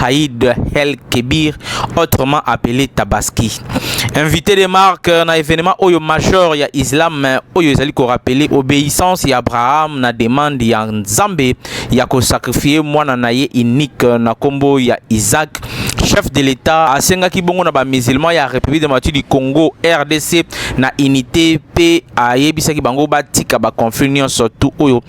Haïd El Kebir, autrement appelé Tabaski. Invité de marque euh, na événement oyo major ya Islam euh, oyo ezali ko rappeler obéissance ya Abraham na demande ya Nzambe ya ko sacrifier mwana na ye unique euh, na kombo ya Isaac chef de l'État asengaki bongo na ba musulmans ya République démocratique du Congo RDC na unité pe ayebisaki bango batika ba conflits nyonso tout oyo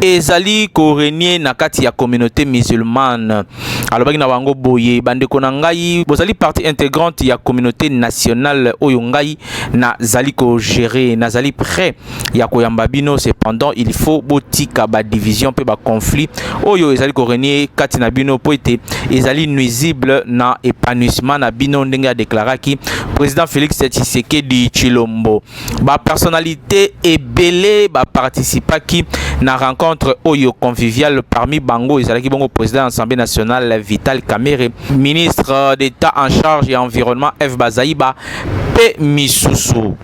ezali korenye na kati ya communauté musulmane alobaki na bango boye bandeko na ngai bozali partie intégrante ya communauté nationale oyo ngai nazali kogere nazali prêt ya koyamba bino cependant il faut botika badivision mpe baconflit oyo ezali korenye kati na bino mpo ete ezali nuisible na épanouissement na bino ndenge adeklaraki président félix tshisekedi tshilombo ba personnalités ebele ba participaki na rencontre oyo conviviale parmi bango ezalaki bongo président ya Assemblée nationale Vital Kamerhe, ministre d'État en charge ya environnement Eve Bazaiba mpe misusu.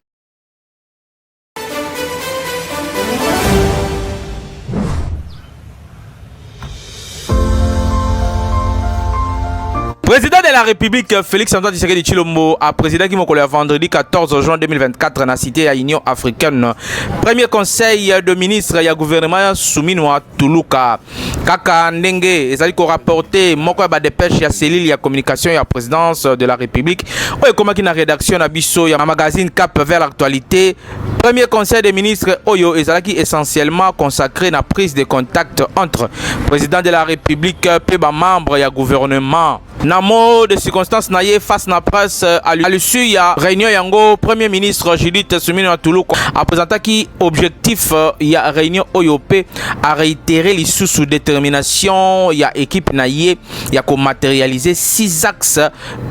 Président de la République Félix Antoine Tshisekedi Chilombo a présidé qui le vendredi 14 juin 2024 dans la cité à Union africaine. Premier conseil de ministre et gouvernement soumis à Toulouka. Kaka Ndenge ezali ko rapporter moko ya ba dépêche ya cellule ya communication ya présidence de la République oyo ekomaki na rédaction na biso ya magazine Cap vers l'actualité Premier Conseil des ministres Oyo ezalaki essentiellement consacré na prise de contact entre président de la République et ba membres ya gouvernement. Na mot de circonstance na ye face na presse euh, à l'issue ya réunion yango Premier ministre Judith Suminwa Tuluka a présentaki objectif euh, ya réunion oyo pe a réitéré lisusu détermination ya équipe na ye ya ko matérialiser six axes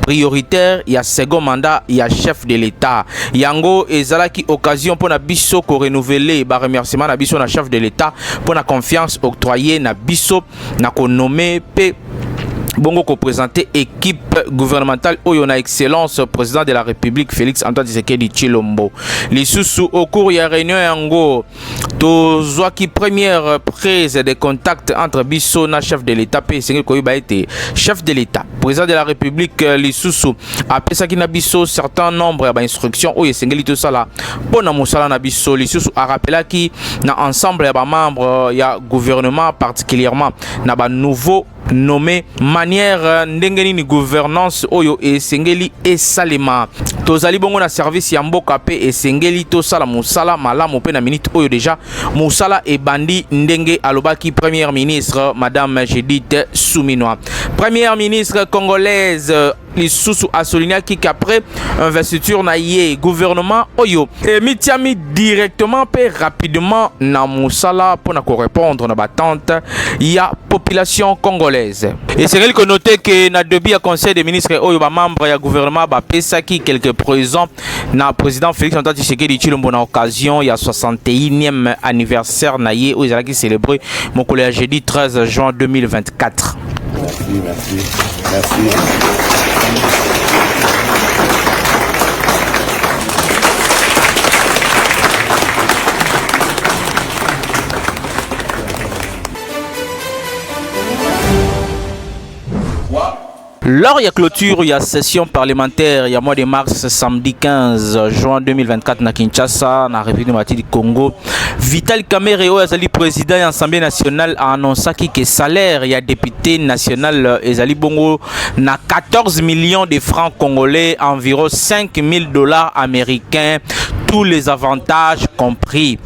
prioritaire ya second mandat ya chef de l'État. Yango ezalaki occasion pour na biso ko renouveler ba remerciements na biso na chef de l'État pour la confiance octroyée na biso na ko nommer pe bongo ko présenter équipe gouvernementale oyo na excellence président de la République Félix Antoine Tshisekedi Tshilombo. Lisusu au cours ya réunion yango tozwaki première prise de contact entre biso na chef de l'état mpe esengeli koyeba ete chef de l'état président de la république euh, lisusu apesaki na biso certain nombre ya bainstruction oyo esengeli tosala mpo na mosala na biso lisusu arapelaki na ensemble ya bamembre euh, ya gouvernement particulièrement na banouveau nomme manière ndenge nini gouvernance oyo esengeli esalema tozali bongo na service ya mboka mpe esengeli tosala mosala malamu mpe na minute oyo deja mosala ebandi ndenge alobaki première ministre madame Judith Suminwa première ministre congolaise lisusu asolignaki qu'après investiture na ye gouvernement oyo emitiami directement mpe rapidement na mosala mpo na korepondre na batente ya population congolaise esengeli konote ke na debut ya conseil des ministres oyo bamembre ya gouvernement bapesaki quelques présents na président Félix Antoine Tshisekedi Tshilombo na occasion ya 61e anniversaire na ye oyo ezalaki célébrer mokolo ya jeudi 13 juin 2024. Merci, merci, merci. Lors ya clôture ya session parlementaire ya mois de mars samedi 15 juin 2024 na Kinshasa na République démocratique du Congo, Vital Kamerhe oyo azali président ya Assemblée nationale a annoncaki que salaire ya député national ezali bongo na 14 millions de francs congolais, environ 5000 dollars américains, tous les avantages compris.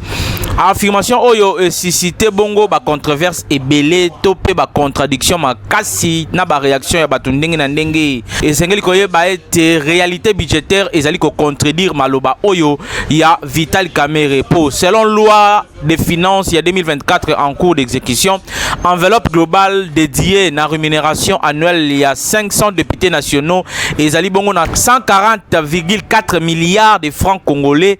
affirmation oyo esuscite bongo bacontroverse ebele to mpe bacontradiction makasi na bareaction ya bato ndenge na ndenge esengeli koyeba ete réalité budgétaire ezali kocontredire maloba oyo ya vital kamere mpo selon loi de finances ya 2024 en cours d'exécution enveloppe globale dédiée na rémunération annuelle ya 500 députés nationaux ezali bongo na 140,4 milliards de francs congolais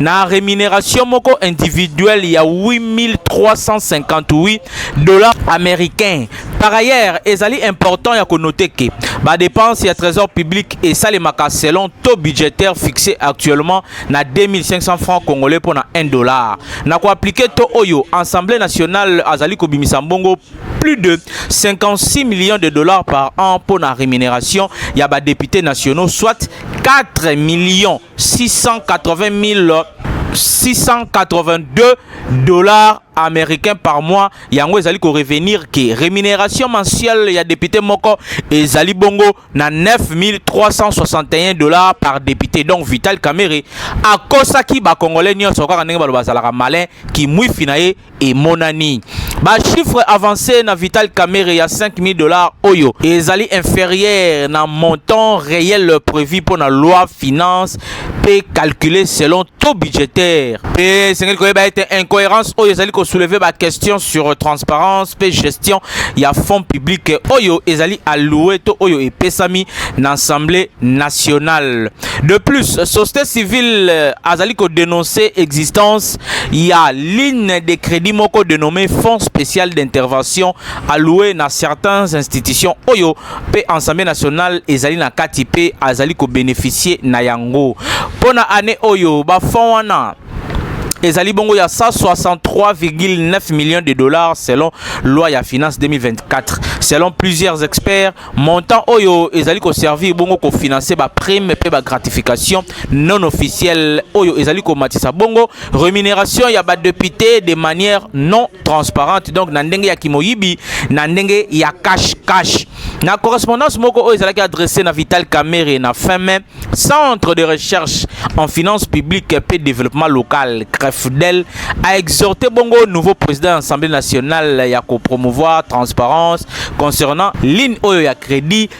na rémunération moko individuelle ya 8358 dollars américains Par ailleurs, ezali important ya konoter que ba dépenses ya trésor public et salemaka selon taux budgétaire fixé actuellement na 2500 francs congolais pour na 1 dollar. Na ko appliquer taux oyo Assemblée nationale azali kobimisa mbongo plus de 56 millions de dollars par an pour la rémunération ya ba députés nationaux soit 4 millions 680 682 dollars américains par mois yango ezali ko revenir ke rémunération mensuelle ya député moko ezali bongo na 9361 dollars par député donc Vital Kamerhe akosaki ba congolais nyonso kaka ndenge baloba azalaka malin kimwifi na ye emonani ba chiffre avancé na Vital Kamerhe ya 5000 dollars oyo ezali inférieur na montant réel prévu pour la loi finance pe calculé selon taux budgétaire pe esengeli koyeba ete incohérence oyo ezali soulever ba question sur transparence pe gestion ya fonds public oyo ezali alloué to oyo epesami na assemblée nationale de plus société civile azali dénoncer existence Il y a ligne de crédit moko dénommé fonds spécial d'intervention alloué na certaines institutions oyo pe ensemble national ezali na kati pe azali ko bénéficier na yango pona année oyo ba fonds wana ezali bongo ya 163,9 millions de dollars selon loi ya finance 2024 selon plusieurs experts Montant oyo ezali ko servir bongo ko financer ba primes pe ba gratifications non officielles oyo ezali ko matisa bongo remuneration ya ba deputes de manière non transparente donc na ndenge ya kimoyibi na ndenge ya cash cash. Na correspondance moko oyo ezalaki adressee na Vital Kamerhe na fin mai Centre de recherche en finances publiques et développement local, CREFDEL, a exhorté Bongo, nouveau président de l'Assemblée nationale, ya ko promouvoir transparence concernant ligne oyo ya crédit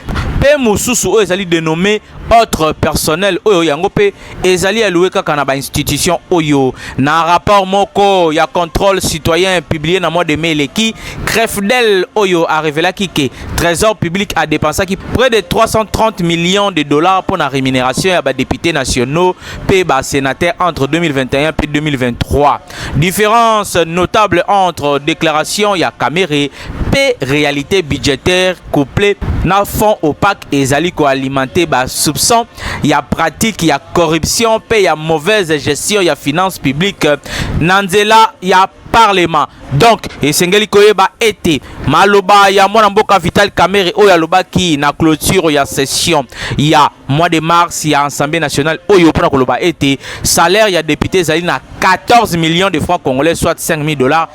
pe mususu oyo ezali dénommé autre personnel oyo yango pe ezali alloué kaka na ba institution oyo na rapport moko ya contrôle citoyen publié na mois de mai eleki CREFDEL oyo a révélaki que Trésor public a dépensé près de 330 millions de dollars pour la rémunération à des députés nationaux et des sénateurs entre 2021 et 2023. Différence notable entre déclaration ya Kamerhe et réalité budgétaire couplée na fonds opaque et zali ko alimenter ba soupçons ya pratique ya corruption et ya mauvaise gestion ya finances publiques nanzela ya parlement donc esengeli koyeba ete maloba ya mwana mboka Vital Kamerhe oyo alobaki na clôture ya session ya mois de mars ya Assemblée nationale oyo mpona koloba ete salaire ya député ezali na 14 millions de francs congolais soit 5000 dollars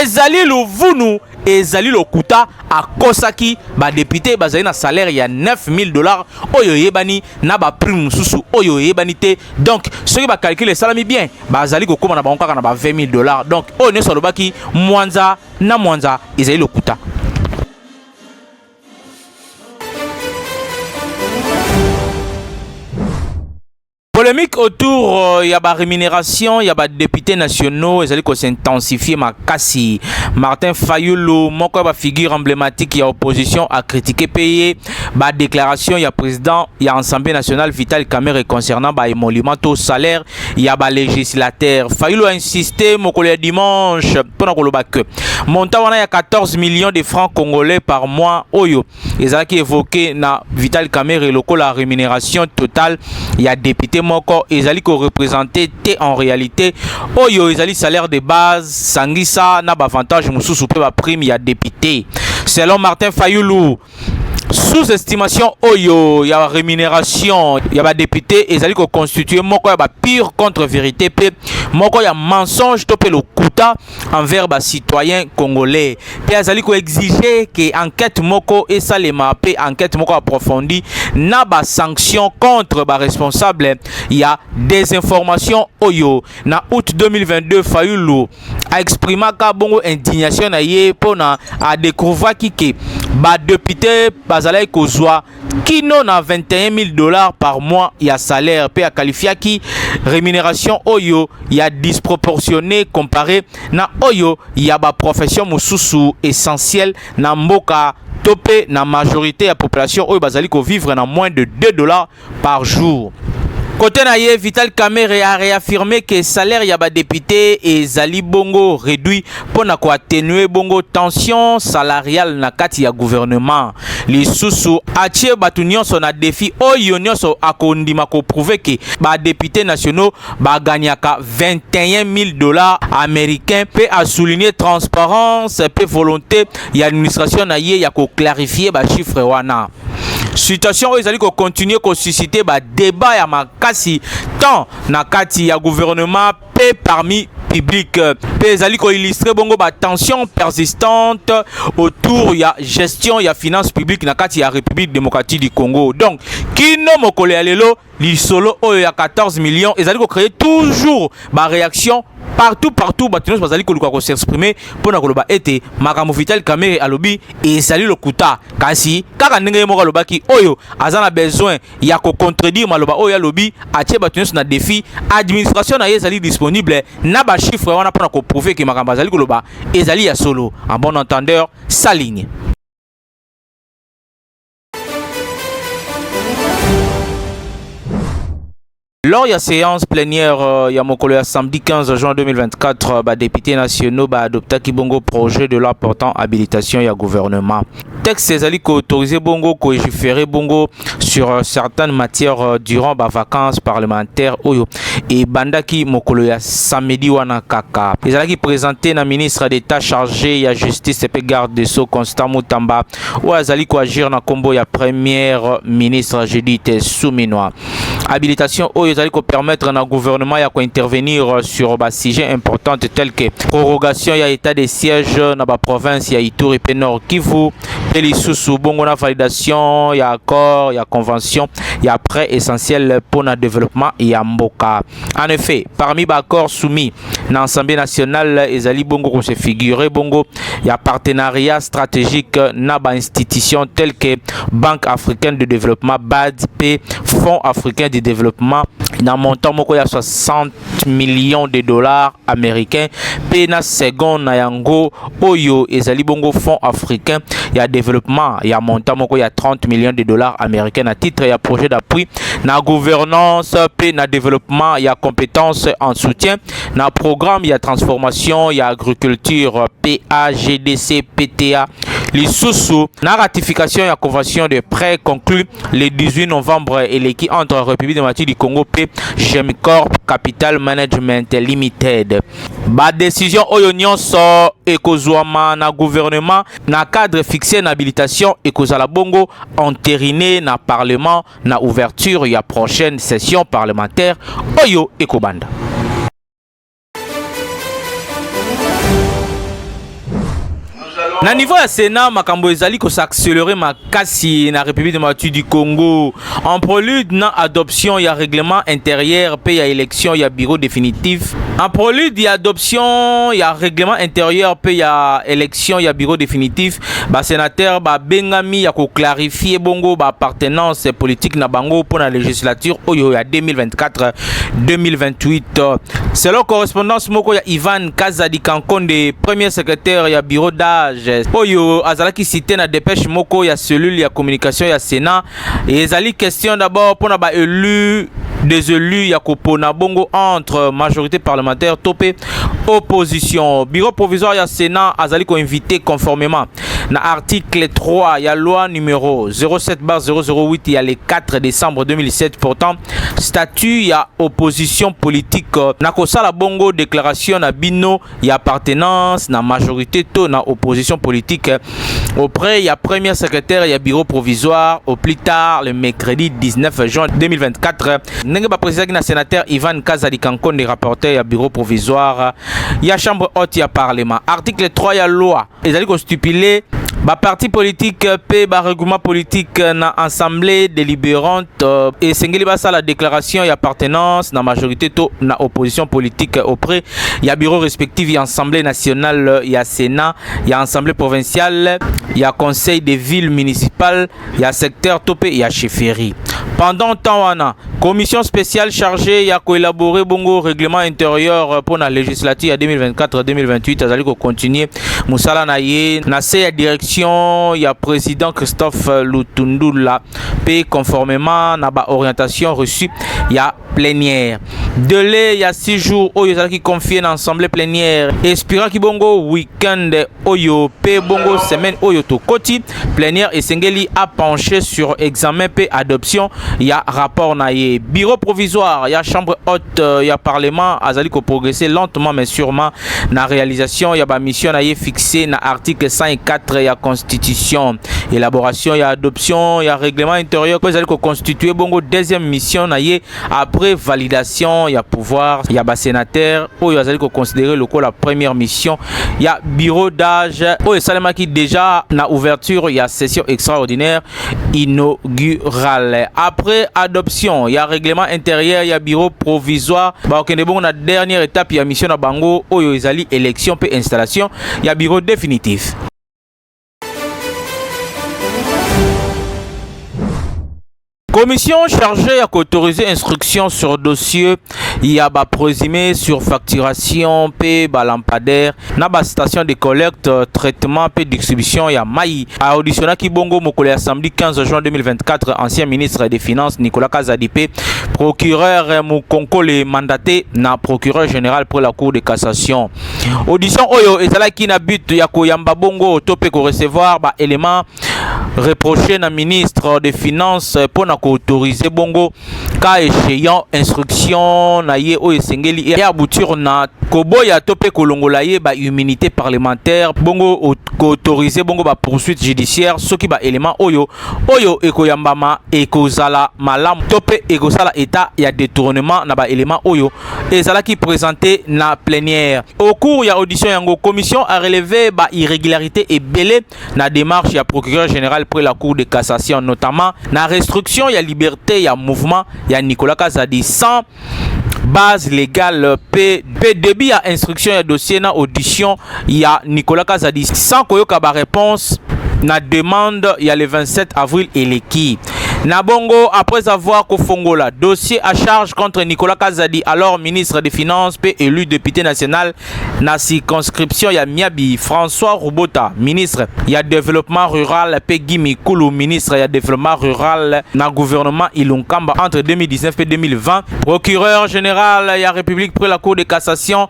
ezali luvunu ezali lokuta akosaki badepute bazali na salaire ya 9000 dollars oyo eyebani na baprime mosusu oyo eyebani te donc soki bakalkule esalami bien bazali kokoma na bango kaka na ba 20 000 dollars donc oyo nyonso alobaki mwanza na mwanza ezali lokuta Polémique autour euh, ya ba rémunération ya ba députés nationaux ezali ko s'intensifier makasi. Martin Fayulu moko ya ba figure emblématique ya opposition a critiqué paye ba déclaration ya président ya Assemblée nationale Vital Kamerhe concernant ba émoluments to salaire ya ba législataire fayulu a insiste mokolo ya dimanche mpo na koloba que montant wana ya 14 millions de francs congolais par mois oyo ezalaki évoqué na vital kamere lokola rémunération totale ya député moko ezali korepresente te en réalité oyo ezali salaire de base sangisa na bavantage mosusu mpe baprime ya député selon martin fayulu sous-estimation oyo ya rémunération ya ba députés ezali ko constituer moko ya ba pire contre vérité pe moko ya mensonge to pe lokuta envers ba citoyens congolais pe azali ko exiger que enquête moko esalema pe enquête moko approfondie na ba sanctions contre ba responsables ya désinformation oyo na août 2022 Fayulu a exprimaka bongo indignation na ye mpo na a découvraki ke badepute bazalaki kozwa kino na 21 000 dollars par mois ya salaire mpe akalifiaki rémunération oyo ya disproportionné compare na oyo ya baprofession mosusu essentielle na mboka to mpe na majorité ya population oyo bazali kovivre na moins de 2 dollars par jour. Côté na ye, Vital Kamerhe a réaffirmé que salaire ya ba députés ezali bongo réduit pour na ko atténuer bongo tension salariale na kati ya gouvernement. Lisusu atie batu nyonso na défi oyo nyonso akondima ko prouver que ba députés nationaux ba gagnaka 21 000 dollars américains pe a souligner transparence pe volonté ya administration na ye ya ko clarifier ba chiffres wana. situation oyo ezali kocontinue kosuscite badebat ya makasi tant na kati ya gouvernement mpe parmi public mpe ezali koillustre bongo batension persistante autour ya gestion ya finance publique na kati ya république démocratique du congo donc kino mokolo ya lelo lisolo oyo ya 14 millions ezali ko créer toujours ba réaction partout partout bato nyonso bazali koluka ko s'exprimer mpo na koloba ete makambo vital kamere alobi ezali lokuta kasi kaka ndenge ye moko alobaki oyo aza na besoin ya kocontredire maloba oyo alobi atie bato nyonso na défi administration na ye ezali disponible na bachiffre wana mpo na koprouve ke makambo azali koloba ezali ya solo en bon entendeur saligne Lors ya séance plénière euh, ya mokolo ya samedi 15 juin 2024, euh, ba députés nationaux ba adoptaki bongo projet de loi portant habilitation ya gouvernement. Texte ezali ko autoriser bongo ko légiférer bongo sur euh, certaines matières durant ba vacances parlementaires oyo et bandaki mokolo ya samedi wana kaka. Ezalaki présenté na ministre d'État chargé ya justice et garde des Sceaux Constant Mutamba oyo azali koagir na nkombo ya premier ministre judith suminwa habilitation oyo ezali kopermettre na gouvernement ya kointervenir sur basujet importante tel que prorogation ya état de siège na baprovince ya ituri mpe nord kivu mpe lisusu bongo na validation ya accord ya convention ya prêt essentiel mpo na développement ya mboka en effet parmi baaccord soumis na Assemblée nationale ezali bongo ko se figurer bongo ya partenariat stratégique na ba institutions telles que Banque africaine de développement BAD et Fonds africain de développement na montant moko ya 60 millions de dollars américains pe na second na yango oyo ezali bongo fonds africain ya développement ya montant moko ya 30 millions de dollars américains na titre ya projet d'appui na gouvernance mpe na développement ya compétences en soutien na programme ya transformation ya agriculture PAGDC PTA lisusu na ratification ya convention de prêt conclu le 18 novembre eleki entre République démocratique du Congo mpe Gemcorp Capital Management Limited Ba decisions oyo nyonso ekozwama na gouvernement na cadre fixe na habilitation ekozala bongo enterine na parlement na ouverture ya prochaine session parlementaire oyo ekobanda. Na niveau ya Sénat, makambo ezali ko s'accélérer makasi na République démocratique du Congo en prélude na adoption ya règlement intérieur pe ya élection ya bureau définitif. En prélude ya adoption ya règlement intérieur pe ya élection ya bureau définitif, ba sénateurs ba bengami ya ko clarifier bongo ba appartenance politique na bango pour la législature oyo ya 2024-2028. Selon correspondance moko ya Ivan Nkaza Dikankonde, premier secrétaire ya bureau d'âge oyo azalaki cité na dépêche moko ya cellule ya communication ya Sénat. Ezali question d'abord mpo na ba élus des élus ya kopona bongo entre majorité parlementaire to mpe opposition. Bureau provisoire ya Sénat azali ko inviter conformément na article 3 ya loi numéro 07 bar 008 ya le 4 décembre 2007 portant statut ya opposition politique euh, na kosala bongo déclaration na bino ya appartenance na majorité to na opposition politique euh, auprès ya premier secrétaire ya bureau provisoire au plus tard le mercredi 19 juin 2024 euh, ndenge bapresidaki na sénateur Ivan Kazadi Kankonde rapporteur ya bureau provisoire ya chambre haute ya parlement article 3 ya loi ezali kostipule baparti politike mpe baregroupement politike na assemblée délibérante euh, esengeli basala déclaration y'appartenance na majorité to na opposition politique auprès ya bureau respectif ya assemblée nationale ya sénat ya assemblée provinciale ya conseil des villes municipales ya secteur to pe ya chefferie pendant temps wana commission spéciale chargée ya koélabore bongo règlement intérieur euh, mpo na législature ya 2024-2028 azali kocontinue mosala na ye na se ya direction ya président christophe lutundula mpe conformément na baorientation reçu ya plénière. Délai ya 6 jours oyo ezalaki confie na assemblée plénière espiraki bongo week-end oyo pe bongo semaine oyo tokoti plénière esengeli a pencher sur examen pe adoption ya rapport na ye. Bureau provisoire ya chambre haute euh, ya parlement azali ko progresser lentement mais sûrement na réalisation ya bamisio na ye fixe na article 104 ya constitution élaboration ya adoption ya règlement intérieur mpo ezali koconstitue bongo deuxième mission na ye après validation ya pouvoir ya basénateur oyo azali koconsidere lokola première mission ya bureau d'âge oyo esalemaki déjà na ouverture ya session extraordinaire inaugurale après adoption ya règlement intérieur ya bureau provisoire bakokende bongo na dernière étape ya mission na bango oyo ezali élection mpe installation ya bureau définitif Commission chargée à autoriser instruction sur dossier ya ba présumé sur facturation pe ba lampadaire na ba station de collecte euh, traitement pe distribution ya mai auditionnaki bongo mokolo ya samedi 15 juin 2024 ancien ministre des finances Nicolas Kazadi pe procureur euh, Mukonkole mandaté na procureur général pour la cour de cassation audition oyo ezalaki na but ya koyamba bongo to pe ko recevoir ba éléments reproché na ministre des finances pour na ko autoriser bongo cas échéant instruction na ye oyo esengeli e aboutir na koboya to mpe kolongola ye ba immunité parlementaire bongo koautorize bongo ba poursuite judiciaire soki ba élément oyo oyo ekoyambama ekozala malamu to mpe ekosala état ya détournement na ba élément oyo ezalaki présenté na plénière au cours ya audition yango commission a relevé ba irrégularité ebele na démarche ya procureur général près la cour de cassation notamment na restriction ya liberté ya mouvement ya Nicolas Kazadi sans base légale pe pe début ya instruction ya dossier na audition ya Nicolas Kazadi sans koyoka ba réponse na demande ya le 27 avril eleki Nabongo, après avoir Kofongola, dossier à charge contre Nicolas Kazadi, alors ministre des Finances, puis élu député national, na circonscription ya Miabi, François Rubota, ministre ya développement rural pe Guy Mikulu, ministre ya développement rural na gouvernement Ilunkamba entre 2019 et 2020. Procureur général ya République près la Cour de cassation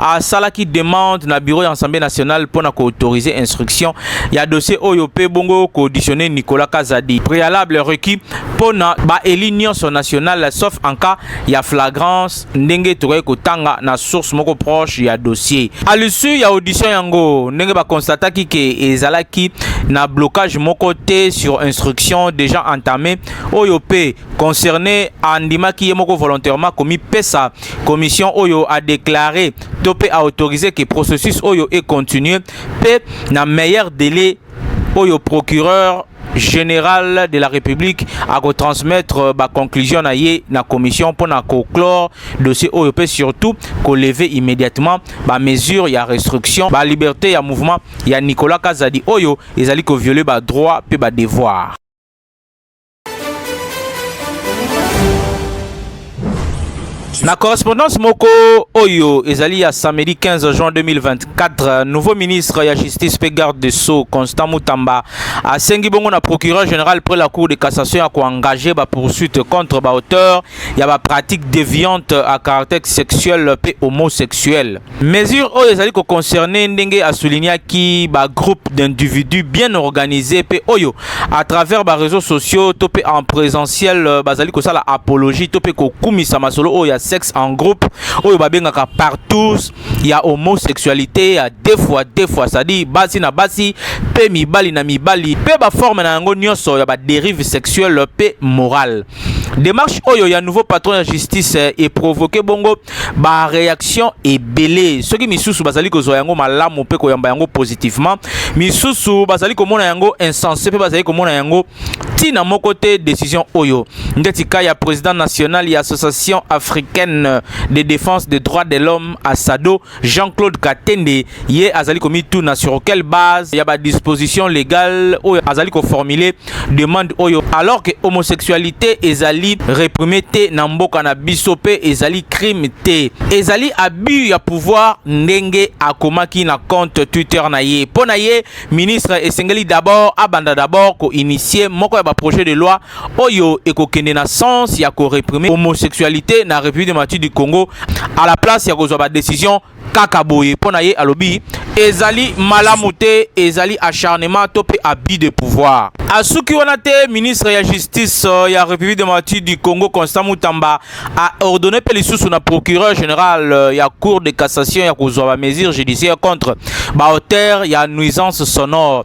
asalaki demande na bureau ya Assemblée nationale pona ko autoriser instruction ya dossier oyo pe bongo ko auditionner Nicolas Kazadi. Préalable requis pona ba élus nyonso national sauf en cas ya flagrance ndenge tokaki kotanga na source moko proche ya dossier. À l'issue ya audition yango ndenge ba constataki ke ezalaki na blocage moko te sur instruction déjà entamée oyo pe concerné andimaki ye moko volontairement komipesa commission oyo a déclarer to pe a autoriser ke processus oyo e continuer pe na meilleur délai oyo procureur général de la République à transmettre euh, ba conclusion na ye na commission pour na conclure dossier oyo peut surtout ko lever immédiatement ba mesure ya restriction ba liberté ya mouvement ya Nicolas Kazadi oyo ezali ko violer ba droits pe ba devoirs Na correspondance moko oyo ezali ya samedi 15 juin 2024, nouveau ministre ya justice pe garde de sceaux Constant Mutamba asengi bongo na procureur général près la cour de cassation ya koengage ba poursuites contre ba auteurs ya ba pratiques déviantes à caractère sexuel pe homosexuel. Mesure oyo ezali ko concerner ndenge a soulignaki ba groupes d'individus bien organisés pe oyo à travers ba réseaux sociaux to pe en présentiel euh, bazali kosala apologie to pe kokumisa masolo oyo ya sexe en groupe oyo babengaka partous ya homosexualité ya deux fois deux fois c'est-à-dire basi na basi pe mibali na mibali pe ba forme na yango nyonso ya ba dérive sexuelle pe morale. Demarche oyo ya nouveau patron ya justice eh, e provoquer bongo ba réaction ebele. Soki misusu bazali kozwa yango malamu pe koyamba yango positivement, misusu bazali komona yango insensé pe bazali komona yango tina moko te décision oyo. Ndeti ka ya président national ya Association africaine de défense des droits de l'homme ASADO Jean-Claude Katende ye azali komituna sur quelle base ya ba disposition légale oyo azali koformule demande oyo alors que homosexualité ezali réprime te na mboka na biso mpe ezali crime te ezali abus ya pouvoir ndenge akomaki na compte Twitter na ye mpo na ye ministre esengeli d'abord abanda d'abord koinitie moko ya baprojet de loi oyo ekokende na sens ya koreprime homosexualité na république démocratique du congo à la place ya kozwa badécision kaka boye mpo na ye alobi ezali malamu te ezali acharnement to mpe abus de pouvoir asuki wana te ministre ya justice euh, ya république démocratique du congo constant mutamba a ordonné mpe lisusu na procureur général euh, ya cour de cassation ya kozwa bamesure judiciaire contre baauteur ya nuisance sonore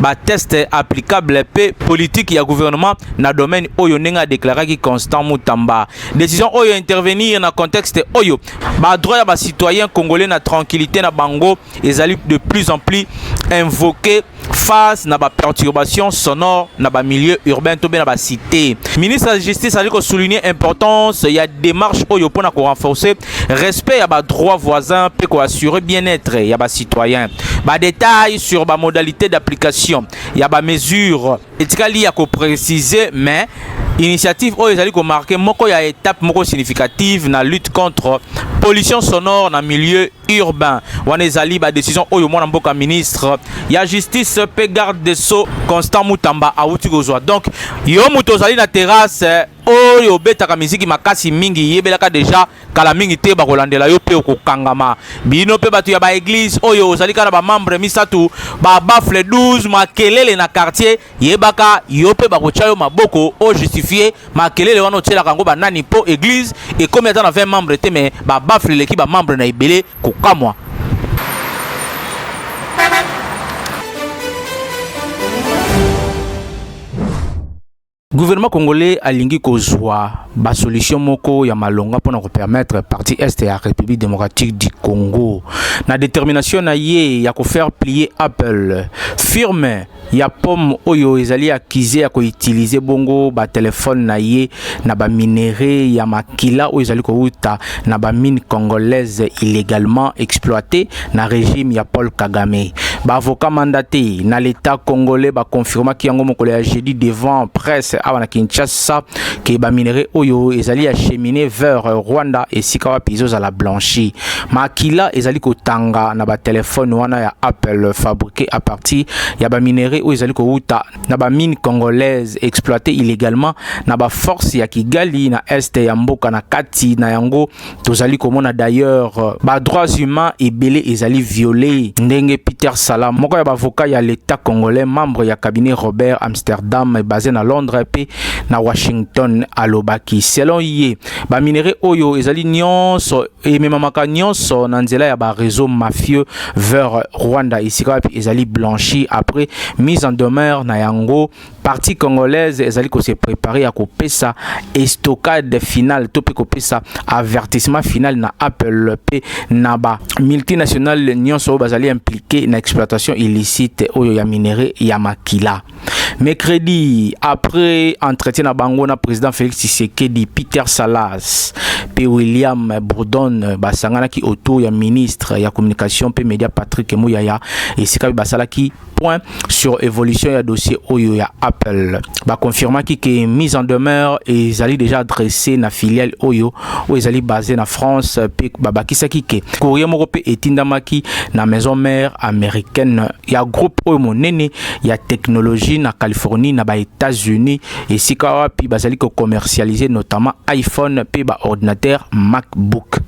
ba test applicable pe politique ya gouvernement na domaine oyo ndenge a déclaraki Constant Mutamba décision oyo intervenir na contexte oyo ba droit ya ba citoyens congolais na tranquillité na bango ezali de plus en plus invoqué face na ba perturbations sonores na ba milieux urbains to be na ba cité ministre ya justice ali ko souligner importance ya démarche oyo pona ko renforcer respect ya ba droits voisins mpe ko assurer bien-être ya ba citoyens. Ba détails sur ba modalités d'application ya ba mesures etikali ya ko préciser mais initiative oyo ezali komarke moko ya etape moko significative na lutte contre pollution sonore na milieu urbain wana ezali badecision oyo mwana mboka ministre ya justice mpe garde de sceau constant mutamba awuti kozwa donc yo moto ozali na terrasse oyo obetaka miziki makasi mingi yebelaka deja kala mingi te bakolandela yo mpe okokangama bino mpe bato ya baeglize oyo ozali kaka na bamembre misato babafle 12 makelele na quartier yebaka yo mpe bakotya yo maboko ojustifie makelele wana otyelaka yango banani mpo eglize ekomi ata na 20 membre te me babafle eleki bamembre na ebele kokamwa Gouvernement congolais alingi kozwa ba solution moko ya malonga pona ko permettre partie est ya République démocratique du Congo na détermination na ye ya ko faire plier Apple firme ya pomme oyo ezali accusé ya ko utiliser bongo ba téléphone na ye na ba minerais ya makila oyo ezali kowuta na ba mine congolaise illégalement exploité na regime ya Paul Kagame. Ba avocats mandatés na l'État congolais ba confirmaki yango mokolo ya jeudi devant presse awa na Kinshasa que ba minerais oyo ezali acheminé vers Rwanda esika wapi ezozala blanchi. Makila ezali kotanga na ba telefone wana ya Apple fabriqué à partir ya ba minerais oyo ezali kowuta na ba mines congolaises exploitées illégalement na ba forces ya Kigali na est ya mboka na kati na yango tozali komona d'ailleurs euh, ba droits humains ebele ezali viole ndenge peter sala moko ya bavoka ya l'état congolais membre ya cabinet robert amsterdam basé na londres mpe na washington alobaki selon ye baminerais oyo ezali nyonso ememamaka nyonso na nzela ya bareseau mafieux vers rwanda esika wapi ezali blanchi après mise en demeure na yango partie congolaise ezali ko se préparer ya kopesa estocade finale to mpe kopesa avertissement final na apple mpe na ba multinationale nyonso oyo bazali impliqué na exploitation illicite oyo ya minerai ya makila mercredi après entretien na bango na président félix tshisekedi peter salas mpe william bourdon basanganaki autour ya ministre ya communication mpe média patrick muyaya esika mpe basalaki point sur évolution ya dossier oyo ya Apple. Ba confirmaki que mise en demeure ezali déjà adressée na filiale oyo oyo ezali basée na France pe babakisaki que courrier moko pe etindamaki na maison mère américaine ya groupe oyo monene ya technologie na Californie na ba États-Unis esika wapi bazali ko commercialiser notamment iPhone pe ba ordinateur MacBook.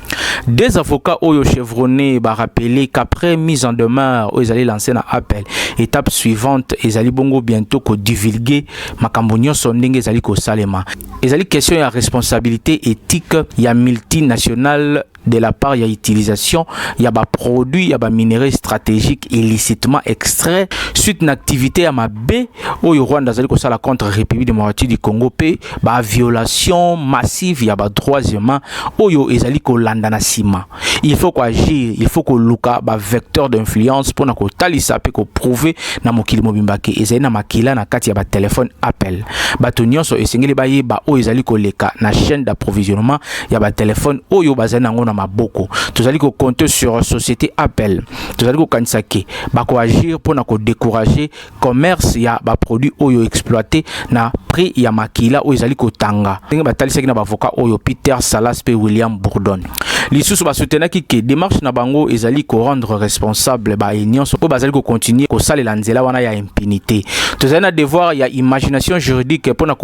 Deux avocats oyo chevronnés ba rappeler qu'après mise en demeure oyo ezali lancé na appel, étape suivante ezali bongo bientôt ko divulguer makambo nyonso ndenge ezali kosalema. Ezali question ya responsabilité éthique ya multinationale de la part ya utilisation ya ba produits ya ba minerais stratégiques illicitement extraits suite na activité ya mabe oyo Rwanda azali kosala contre République démocratique du Congo pe ba violation massive ya ba droits humains oyo ezali kolanda na sima il faut ko agir il faut koluka ba vecteurs d'influence pona kotalisa pe ko prouver na mokili mobimba ke ezali na makila na kati ya ba téléphone appel bato nyonso esengeli bayeba oyo ezali koleka na chaîne d'approvisionnement ya ba telefone oyo bazali nango na maboko tozali compter sur société apple tozali kokanisa ke bakoagir mpo na décourager commerce ya produit oyo exploité na prix ya makila oyo ezali kotanga ndenge batalisaki na bavoka oyo peter salas mpe william bourdon lisusu basoutenaki ke démarche na bango ezali rendre responsable ba nyonso oyo bazali kocontinue kosalela nzela wana ya impunité tozali na devoir ya imagination juridique mpo na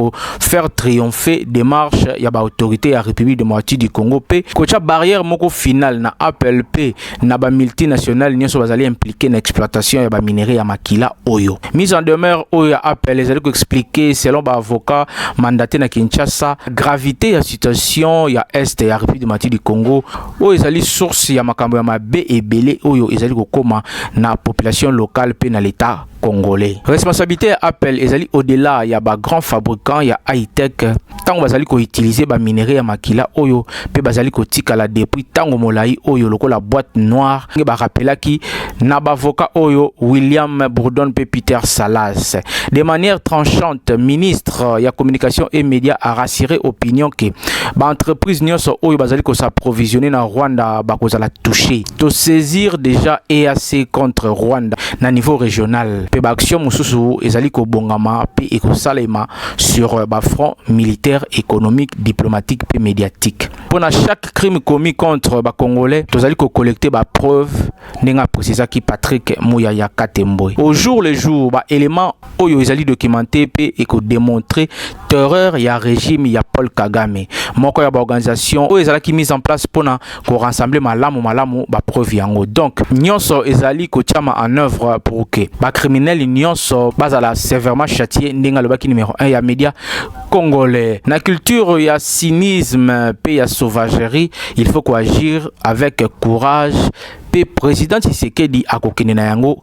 faire triompher démarche ya ba autorité ya République démocratique du Congo pe kocha barrière moko finale na Apple pe na ba multinationales nyoso bazali impliqué na exploitation ya ba minerais ya makila oyo. Mise en demeure oyo ya Apple ezali ko expliquer selon ba avocats mandatés na Kinshasa gravité ya situation ya est ya République démocratique du Congo oyo ezali source ya makambo ya mabe ebele oyo ezali kokoma na population locale pe na l'État congolais. Responsabilité ya Apple ezali au-delà ya ba grands fabricants ya high-tech tango bazali ko utiliser ba minerais ya makila oyo pe bazali kotikala depuis tango molayi oyo lokola boîte noire nge ba rappelaki na bavoka oyo William Bourdon pe Peter Salas. De manière tranchante, ministre ya communication et médias a rassuré opinion que ba entreprises nyonso oyo bazali ko s'approvisionner na Rwanda bakozala touchées. to saisir déjà EAC contre Rwanda na niveau régional pe ba action mususu ezali kobongama pe ekosalema sur euh, ba front militaire économique diplomatique pe médiatique pona chaque crime commis contre ba congolais tozali ko collecter ba preuves ndenge a précisaki Patrick Muyaya Katembwe au jour le jour ba éléments oyo ezali documenté mpe ekodemontre terreur ya regime ya paul kagame moko ya baorganisation oyo ezalaki mise en place mpo na korassembler malamu malamu bapreuve yango donc nyonso ezali kotyama en œuvre pour que bacriminele nyonso bazala sévèrement châtie ndenge alobaki numero 1 ya média congolais na culture ya cynisme mpe ya sauvagerie il faut koagir avec courage mpe président tshisekedi akokende na yango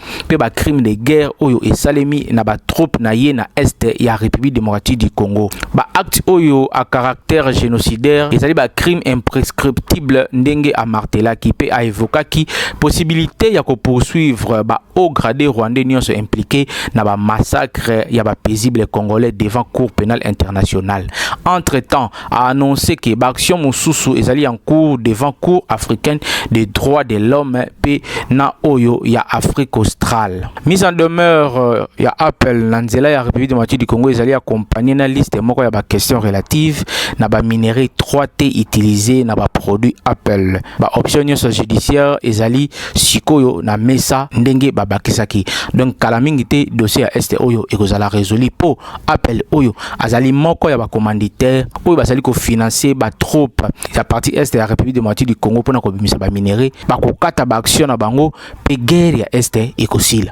mpe ba crime de guerre oyo esalemi na ba troupes na ye na est ya République démocratique du Congo. Ba actes oyo a caractère génocidaire ezali ba crime imprescriptible ndenge a martelaki mpe a evokaki possibilité ya ko poursuivre ba hauts gradés rwandais nyonso impliqués na ba massacres ya ba paisibles congolais devant Cour pénale internationale. Entre-temps, a annoncé que baaction mosusu ezali en cours devant Cour africaine des droits de l'homme pe na oyo ya Afrique australe. Mise en demeure euh, ya appel na nzela ya République démocratique du Congo ezali accompagnée na liste moko ya ba questions relatives na ba minerais 3T utilisés na ba produits appel. Ba options nyonso judiciaire ezali sikoyo na mesa ndenge babakisaki. Donc kala mingi te dossier ya este oyo ekozala résolu po Apple oyo azali moko ya bacommanditaire oyo bazali kofinanse batrope ya parti est ya république démocratique du congo mpona kobimisa baminerai bakokata baaction na bango mpe guerre ya est ekosila